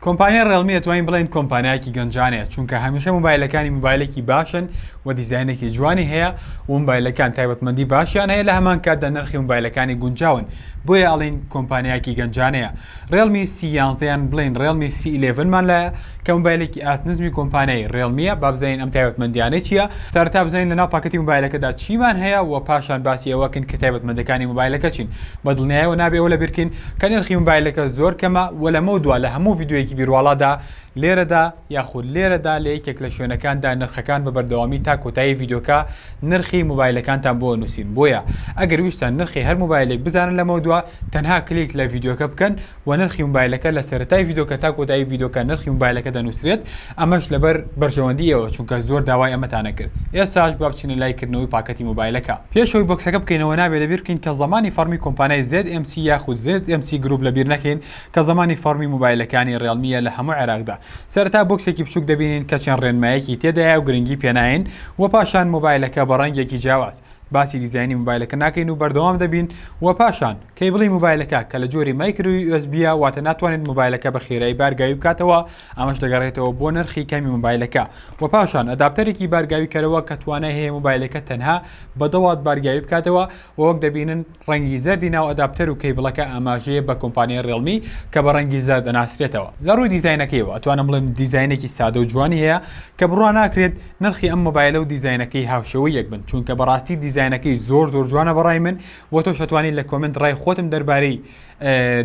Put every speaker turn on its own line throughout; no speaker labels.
کۆمپانیای ڕێڵمی ئەتوانین بڵێین کۆمپانیایەکی گەنجانەیە چونکە هەمیشە موبایلەکانی موبایلێکی باشن و دیزاینێکی جوانی هەیە و موبایلەکان تایبەتمەندی باشیان هەیە لە هەمان کاتدا نرخی موبایلەکانی گونجاون بۆیە ئەڵین کۆمپانیایەکی گەنجانەیە ڕێڵمی سی یانزەیان بڵین ڕێڵمی سی ئیلێڤنمان لایە کە موبایلێکی ئاست نزمی کۆمپانیای ڕێڵمیە بابزین ئەم تایبەتمەندیانە چییە سەرتا بزانین لەناو پاکەتی موبایلەکەدا چیمان هەیە و پاشان باسی ئەوەکەن کە تایبەتمەندەکانی موبایلەکە چین بە دڵنیایەوە نابێ ئەوە لەبیر کەین کە نرخی مۆبایلەکە زۆر کەمە و لەمەو دوا لە هەموو ڤیدیۆیەکی بیرواڵادا لێرەدا یاخود لێرەدا لە یەکێک لە شوێنەکاندا نرخەکان بە بەردەوامی تا کۆتایی ڤیدیۆکە نرخی مۆبایلەکانتان بۆ ئەنووسین بۆیە ئەگەر ویستتان نرخی هەر مۆبایلێک بزانن لەمەو دوا تەنها کلیک لە ڤیدیۆکە بکەن وە نرخی موبایلەکە لە سەرەتای ڤیدۆکە تا کۆتایی ڤیدۆکە نرخی موبایلەکە دەنوسرێت ئەمەش لەبەر بەرژەوەندی ئێوە چونکە زۆر داوای ئەمەتانە کرد ئێستاش با بچینە لای کردنەوەی پاکەتی موبایلەکە پێش ئەوەی بۆکسەکە بکەینەوە نابێت لەبیر بکەین کە زەمانی فەڕمی کۆمپانای زێد ئێم سی یاخود زێد ئێم سی گروپ لەبیر نەکەین کە زەمانی فەڕمی موبایلەکانی ڕێڵمیە لە هەموو عێراقدا سەرەتا بۆکسێکی بچوک دەبینین کە چەند ڕێنمایەکی تێدایە و گرنگی پێناین وە پاشان موبایلەکە بە ڕەنگێکی جیاواز باسی دیزاینی موبایلەکە ناکەین و بەردەوام دەبین وە پاشان کەیبڵی مۆبایلەکە کە لە جۆری مایکرۆ یو ئێس بییە واتە ناتوانێت مۆبایلەکە بە خێرایی بارگاوی بکاتەوە ئەمەش دەگەڕێتەوە بۆ نرخی کەمی مۆبایلەکە وە پاشان ئەداپتەرێکی بارگاویکەرەوە کە توانای هەیە مۆبایلەکە تەنها بە دە وات بارگاوی بکاتەوە وە وەک دەبینن ڕەنگی زەردی ناو ئەداپتەر و کەیبڵەکە ئاماژەیە بە کۆمپانیای ڕێڵمی کە بە ڕەنگی زەرد دەناسرێتەوە. لە ڕووی دیزاینەکەیەوە ئەتوانم بڵێم دیزاینێکی سادە و جوانی هەیە کە بڕوا ناکرێت نرخی ئەم مۆبایلە و دیزاینەکەی هاوشێوەی یەک بن چونکە بەڕاستی دیزاینەکەی زۆر زۆر جوانە بەڕای من وە تۆش ئەتوانی لە کۆمێنت ڕای خۆتم دەربارەی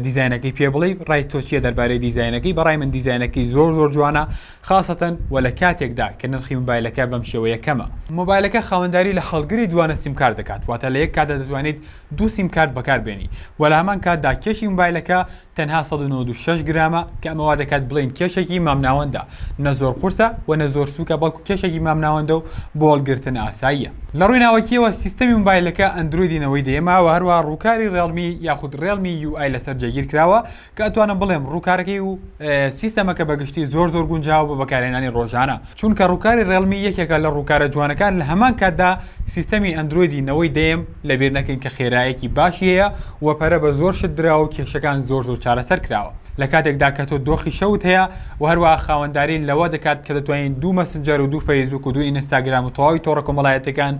دیزاینەکەی پێ بڵێ ڕای تۆ چیە دەربارەی دیزاینەکەی بەڕای من دیزاینەکەی زۆر زۆر جوانە خاستەن وە لە کاتێکدا کە نرخی مبایلەکە بەم شێوەیە کەمە مۆبایلەکە خاوەنداری لە هەڵگری دوانە سیمکار دەکات واتە لە یەک کاتدا دەتوانیت دوو سیمکارت بەکاربێنی وە لە هەمان کاتدا کێشی مبایلەکە تەنها سەد و نەوەد و شەش گرامە کە ئەمە وا دەکات بڵێین کێشێکی مامناوەندە، نە زۆر قورسە و نە زۆر سووکە بەڵکو کێشێکی مامناوەندە و بۆ هەڵگرتن ئاساییە. لە ڕووی ناوەکییەوە سیستەمی موبایلەکە ئەندرۆیدی نەوەی دەیەمە و هەروەها ڕووکاری ڕێڵمی یاخود ڕێڵمی یو ئای لەسەر جێگیر کراوە کە ئەتوانم بڵێم ڕووکارەکەی و سیستەمەکە بە گشتی زۆر زۆر گونجاوە بۆ بەکارهێنانی ڕۆژانە. چونکە ڕووکاری ڕێڵمی یەکێکە لە ڕووکارە جوانەکان لە هەمان کاتدا سیستەمی ئەندرۆیدی نەوەی دەیەم لەبیر نەکەین کە خێرایەکی باشی هەیە و پەرە بە زۆر شت دراوە و کێشەکان زۆر زۆر چارەسەر کراوە لە کاتێکدا کە تۆ دۆخی شەوت هەیە و هەروەها خاوەنداری لەوە دەکات کە دەتوانیت دوو مەسنجەر و دوو فەیسبووک و دوو ئینستاگرام و تەواوی تۆڕە کۆمەڵایەتیەکان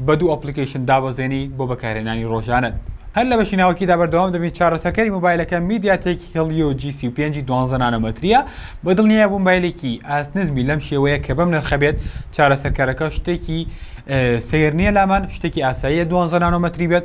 بە دوو ئەپڵیکەیشن دابەزێنی بۆ بەکارهێنانی ڕۆژانەت. هەر لە بەشی ناوەکیدا بەردەوام دەبین چارەسەکەری مۆبایلەکە میدیاتێک هیڵیۆ جی سی و پێنج ی دوازدە نانۆمەترییە، بەدڵنیایە بووم مبایلێکی ئاست نزمی لەم شێوەیە کە بەم نرخە بێت چارەسەرکەرەکە شتێکی سەیر نییە لامان شتێکی ئاساییە دوازدە نانۆمەتری بێت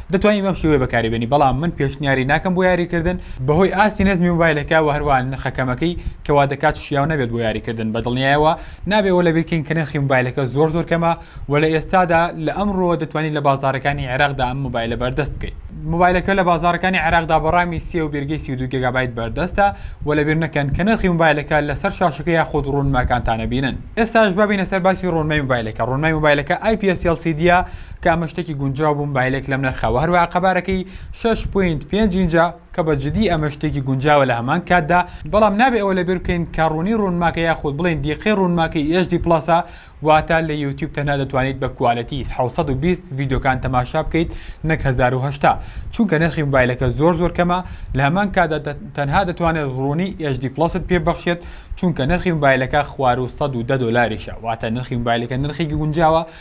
دەتوانی بەم شێوەیە بەکاری بێنی بەڵام من پێشنیاری ناکەم بۆ یاری کردن بەهۆی ئاستی نەزمی مۆبایلەکە وە هەروەها نرخە کەمەکەی کە وا دەکات شیاو نەبێت بۆ یاری کردن بە دڵنیایەوە نابێ وە لەبیرکەین کە نرخی مۆبایلەکە زۆر زۆر کەمە وە لە ئێستادا لە ئەمڕۆوە دەتوانی لە بازاڕەکانی عێراقدا ئەم مۆبایلە بەردەست بکەی. مۆبایلەکە لە بازاڕەکانی عێراقدا بە ڕامی سێ و بێرگەی سی و دوو گێگابایت بەردەستە وە لەبیر نەکەن کە نرخی مۆبایلەکە لە سەر شاشەکە یاخود ڕوونماکانتانە بینن ئێستاش با بینە سەر باسی ڕوونمای مۆبایلەکە ڕوونمای مۆبایلەکە ئای پی ئێس ئێڵ سی دیە تکا من شتەکی گونجاو بوم بایلێک لەم نرخە وە هەروەها قەبارەکەی شەش پوینت پێنج ئینجە کە بە جدی ئەمە شتێکی گونجاوە لە هەمان کاتدا بەڵام نابێ ئەوە لەبیر بکەین کە ڕونی ڕونماکە یاخود بڵێین دیقەی ڕونماکەی ئێچ دی پڵەسە واتە لە یوتیوب تەنها دەتوانیت بە کوالێتی حەوت سەد و بیست ڤیدیۆکان تەماشا بکەیت نەک هەزار و هەشتا چونکە نرخی مۆبایلەکە زۆر زۆر کەمە لە هەمان کاتدا تەنها دەتوانێت ڕونی ئێچ دی پڵەست پێ ببەخشێت چونکە نرخی مۆبایلەکە خوار و سەد و دە دۆلاریشە واتە نرخی مۆبایلەکە نرخێکی گونجاوە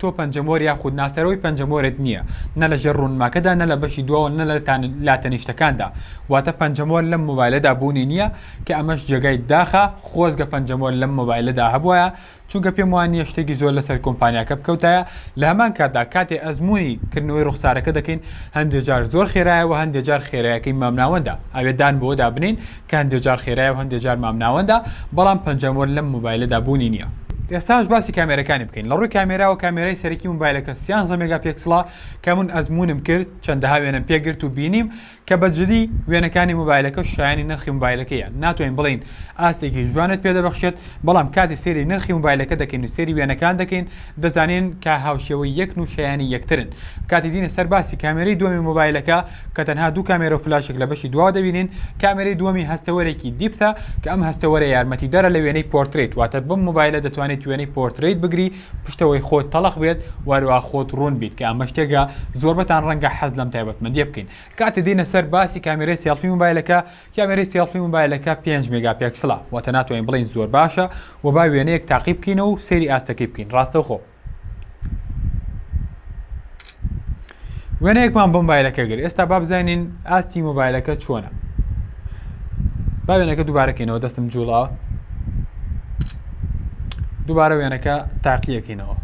تۆ پەنجەمۆر یاخود ناسەرەوەی پەنجەمۆرت نییە، نە لە ژێر ڕوونماکەدا نە لە بەشی دواوە نە لە لاتەنیشتەکاندا، واتە پەنجەمۆر لەم مۆبایلەدا بوونی نییە، کە ئەمەش جێگای داخە، خۆزگە پەنجەمۆر لەم مۆبایلەدا هەبوایە، چونکە پێم وا نییە شتێکی زۆر لەسەر کۆمپانیاکە بکەوتایە، لە هەمان کاتدا کاتێ ئەزموونی کردنەوەی ڕوخسارەکە دەکەین هەندێ جار زۆر خێرایە و هەندێ جار خێرایەکەی مامناوەندە، ئەبێ دان بەوەدا بنێین کە هەندێ جار خێرایە و هەندێ جار مامناوەندە، بەڵام پەنجەمۆر لەم مۆبایلەدا بوونی نییە. ئێستاش باسی کامێرەکانی بکەین. لە ڕووی کامێراوە کامێرای سەرەکی مۆبایلەکە سیانزە مێگاپێکسڵە کە من ئەزموونم کرد، چەندەها وێنەم پێ گرت و بینیم کە بە جدی وێنەکانی مۆبایلەکە شایەنی نرخی مۆبایلەکەیە، ناتوانین بڵێین ئاستێکی جوانت پێ دەبەخشێت، بەڵام کاتێ سەیری نرخی مۆبایلەکە دەکەین و سەیری وێنەکان دەکەین دەزانین کە هاوشێوەی یەکن و شایەنی یەکترن. کاتێ دینە سەر باسی کامێرەی دووەمی مۆبایلەکە، کە تەنها دوو کامێرە و فلاشێک لە بەشی دواوە دەبینین، کامێرەی دووەمی هەستەوەرێکی دیپتە کە ئەم هەستەوەرە یارمەتیدەرە لە وێنەی پۆرترەیت واتە بەم مۆبایلە دەتوانیت وێنەی پۆرترەیت بگری پشتەوەی خۆت تەڵخ بێت و هەروەها خۆت ڕوون بیت کە ئەمە شتێکە زۆربەتان ڕەنگە حەز لەم تایبەتمەندیە بکەین کاتێ دێینە سەر باسی کامێرەی سێڵفی مۆبایلەکە کامێرەی سێڵفی مۆبایلەکە پێنج مێگا پێکسڵە واتە ناتوانین بڵێین زۆر باشە و با وێنەیەک تاقی بکەینەوە و سەیری ئاستەکەی بکەین ڕاستەوخۆ وێنەیەکمان بۆ مۆبایلەکە گەر ئێستا با بزانین ئاستی مۆبایلەکە چۆنە با وێنەکە دووبارەکەینەوە دەستم جوڵا دووبارە وێنەکە تاقیەکەینەوە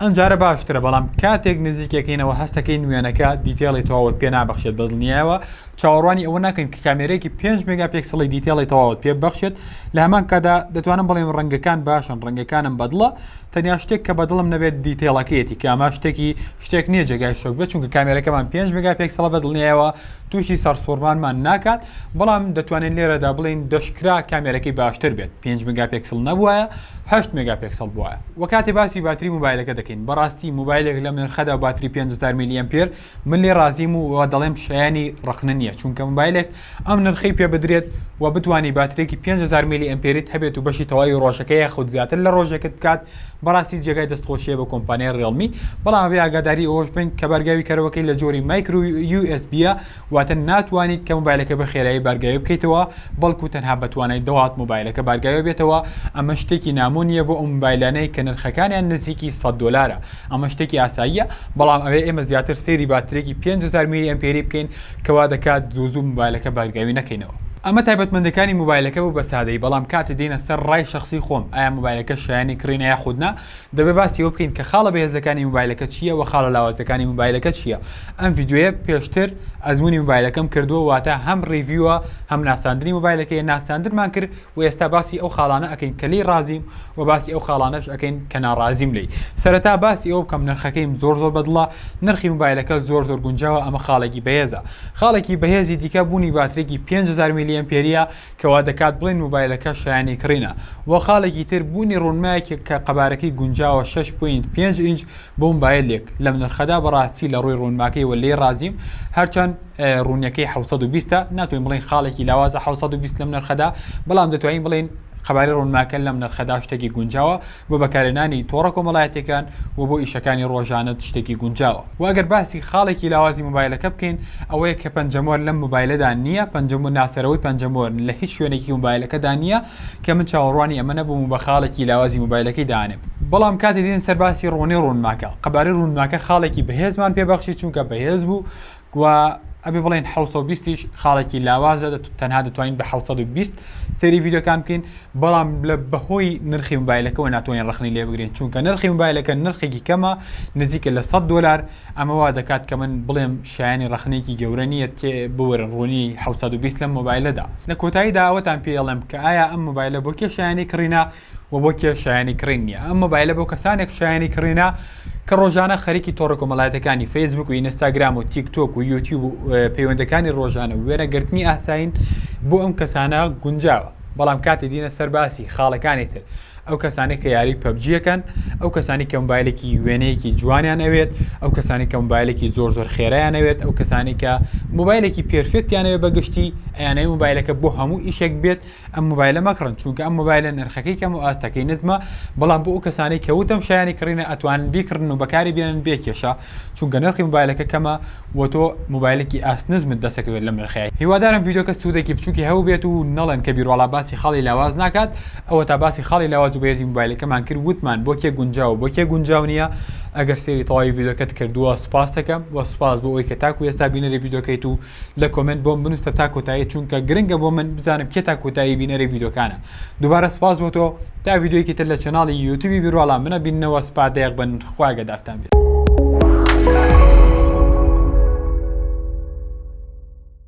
ئەمجارە باشترە بەڵام کاتێک نزیکەکەینەوە هەستەکەی نوێنەکە دیتێڵی تەواوت پێ نابەخشێت بەدڵنیایەوە چاوەڕوانی ئەوە ناکەین کە کامێرەیەکی پێنج مێگا پێکسڵی دیتێڵی تەواوت پێ ببەخشێت لە هەمان کادا دەتوانم بڵێم ڕەنگەکان باشن ڕەنگەکانم بەدڵە تەنیا شتێک کە بەدڵم نەبێت دیتێڵەکەیەتی کە ئەمە شتێکی شتێک نییە جێگای شۆک بێت چونکە کامێرەکەمان پێنج مێگا پێکسڵە بە دڵنیایەوە تووشی سەرسوڕمانمان ناکات بەڵام دەتوانین لێرەدا بڵێین دەشکرا کامێرەکەی باشتر بێت پێنج مێگا پێکسڵ نەبووە هەشت مێگا پێکسڵ بووە وە کاتێ باسی باتری موبایلەکە دەکەین بەڕاستی موبایلێک لەم نرخەدا باتری پێنج هەزار میلی ئەمپێر من لێ ڕازیم و وە دەڵێم شایەنی ڕەخنە نییە چونکە مۆبایلێک ئەم نرخەی پێ بدرێت و بتوانی باترێکی پێنج هەزار میلی ئەمپێریت هەبێت و بەشی تەواوی ڕۆژەکە یاخود زیاتر لە ڕۆژێکت بکات بەڕاستی جێگای دەستخۆشییە بۆ کۆمپانیای ڕیڵمی بەڵام ئەبێ ئاگاداری ئەوەش بین کە بارگاوی کەرەوەکەی لە جۆری مایکرو یو ئێس بییە واتە ناتوانیت کە مۆبایلەکە بە خێرایی بارگاوی بکەیتەوە بەڵکو تەنها بە توانای دە وات مۆبایلەکە بارگاوی بێتەوە ئەمە شتێکی نامۆ نییە بۆ ئەو مۆبایلانەی کە نرخەکانیان نزیکی سەد دۆلارە ئەمە شتێکی ئاساییە، بەڵام ئەوێ ئێمە زیاتر سەیری باترێکی پێنج هەزار میلی ئەمپێری بکەین کە وا دەکات زوو زوو مۆبایلەکە بارگاوی نەکەینەوە. ئەمە تایبەتمەندەکانی مۆبایلەکە بوو بە سادەیی، بەڵام کاتێ دێینە سەر ڕای شەخسی خۆم ئایا مۆبایلەکە شایەنی کڕینە یاخود نا، دەبێ باسی ئەوە بکەین کە خاڵە بێهێزەکانی مۆبایلەکە چییە وە خاڵە لاوازەکانی مۆبایلەکە چییە. ئەم ڤیدیۆیە پێشتر ئەزموونی مۆبایلەکەم کردووە واتە هەم ڕیڤیوە هەم ناساندنی مۆبایلەکەیە، ناساندنمان کرد، وە ئێستا باسی ئەو خاڵانە ئەکەین کە لێی ڕازیم و باسی ئەو خاڵانەش ئەکەین کە ناڕازیم لێی سەرەتا باسی ئەوە بکەم نرخەکەیم زۆر زۆر بەدڵە نرخی موبایلەکە زۆر زۆر گونجاوە ئەمە خاڵێکی بەهێزە خاڵێکی بەهێزی دیکە بوونی باترێکی 5000 ملی ئەمپێریە کە وا دەکات بڵێن موبایلەکە شایەنی کڕینە وە خاڵێکی تر بوونی ڕوونمایەکی کە قەبارەکەی گونجاوە 6.5 ئینج بۆمبایلێک لەم نرخەدا بەڕاستی لە ڕووی ڕوونماکەیەوە لێی ڕازیم هەرچەند ڕوونیەکەی حەوت سەد و بیستە ناتوانین بڵێین خاڵێکی لاوازە حەوت سەد و بیست لەم نرخەدا بەڵام دەتوانین بڵێین قەبارەی ڕوونماکە لەم نرخەدا شتێکی گونجاوە بۆ بەکارهێنانی تۆڕە کۆمەڵایەتیەکان و بۆ ئیشەکانی ڕۆژانەت شتێکی گونجاوە و ئەگەر باسی خاڵێکی لاوازی مۆبایلەکە بکەین ئەوەیە کە پەنجەمۆر لەم مۆبایلەدا نییە پەنجەمۆر ناسەرەوەی پەنجەمۆر لە هیچ شوێنێکی مۆبایلەکەدا نییە کە من چاوەڕوانی ئەمە نەبووم و بە خاڵێکی لاوازی مۆبایلەکەی دانێم. بەڵام کاتێ دێن سەر باسی ڕۆنی ڕوونماکە، قەبارەی ڕوونماکە خاڵێکی بەهێزمان پێ بەخشی چونکە بەهێز بوو گوا ئەبێ بڵێین حەوت سەد و بیست یش خاڵێکی لاوازە تەنها دەتوانین بە حەوت سەد و بیست سەیری ڤیدیۆکان بکەین بەڵام لە بەهۆی نرخی مۆبایلەکەەوە ناتوانین ڕەخنەی لێ بگرین چونکە نرخی مۆبایلەکە نرخێکی کەمە نزیکە لە سەد دۆلار ئەمە وا دەکات کە من بڵێم شایەنی ڕەخنەیەکی گەورە نییە، تێ بوەرن ڕوونی حەوت سەد و بیست لەم مۆبایلەدا. لە کۆتاییدا ئەوەتان پێ ئەڵێم کە ئایا ئەم مۆبایلە بۆ کێ شایەنی کڕینە و بۆ کێ شایەنی کڕین نییە. ئەم مۆبایلە بۆ کەسانێک شایەنی کڕینە کە ڕۆژانە خەریکی تۆڕە کۆمەڵایەتەکانی فەیسبووک و ئینستاگرام و تیک تۆک و یوتیوب و پەیوەندەکانی ڕۆژانە و وێنە گرتنی ئاسایین بۆ ئەم کەسانە گونجاوە. بەڵام کاتێ دینە سەر باسی خاڵەکانی تر، ئەو کەسانەی کە یاری پەبجی یەکەن ئەو کەسانی کە مبایلێکی وێنەیەکی جوانیان ئەوێت ئەو کەسانی کە مبایلێکی زۆر زۆر خێرایان ئەوێت ئەو کەسانی کە مبایلێکی پێرفێکتیانەوێ بەگشتی ئەیانەوەی مبایلەکە بۆ هەموو ئیشێک بێت ئەم مبایلە مەکڕن چونکە ئەم مبایلە نرخەکەی کەم و ئاستەکەی نزمە بەڵام بۆ ئەو کەسانی کەوتم شایانی کڕینە ئەتوانن بیکڕن و بەکاری بێنن بێ کێشە چونکە نرخی موبایلەکە کەمە و تۆ موبایلێکی ئاست نزمت دەسەکەوێت لەم نرخەیە هیوادارم ڤیدۆکە سوودێکی بچووکی هەبووبێت و نەڵێن کە بیرواڵا باسی خاڵی لاواز ناکات ئەوەتا باسی خاڵی لاواز و بەهێزی موبایلەکەمان کرد وتمان بۆ کێ گونجاوە و بۆ کێ گونجاو نییە ئەگەر سەیری تەواوی ڤیدۆکەت کردووە سوپاستەکەم و سوپاس بۆ ئەوەی کە تاکو ئێستا بینەری ڤیدۆکەیت و لە کۆمێنت بۆم بنووسە تا کۆتایی چونکە گرنگە بۆ من بزانم کێ تا کۆتایی بینەری ڤیدۆکانە دووبارە سپاس بۆ تۆ تا ڤیدیۆیەکی تر لە چەناڵی یوتیوبی بیرواڵا منە بیننەوە سپا دەیەق بن خواگەدارتان بێت.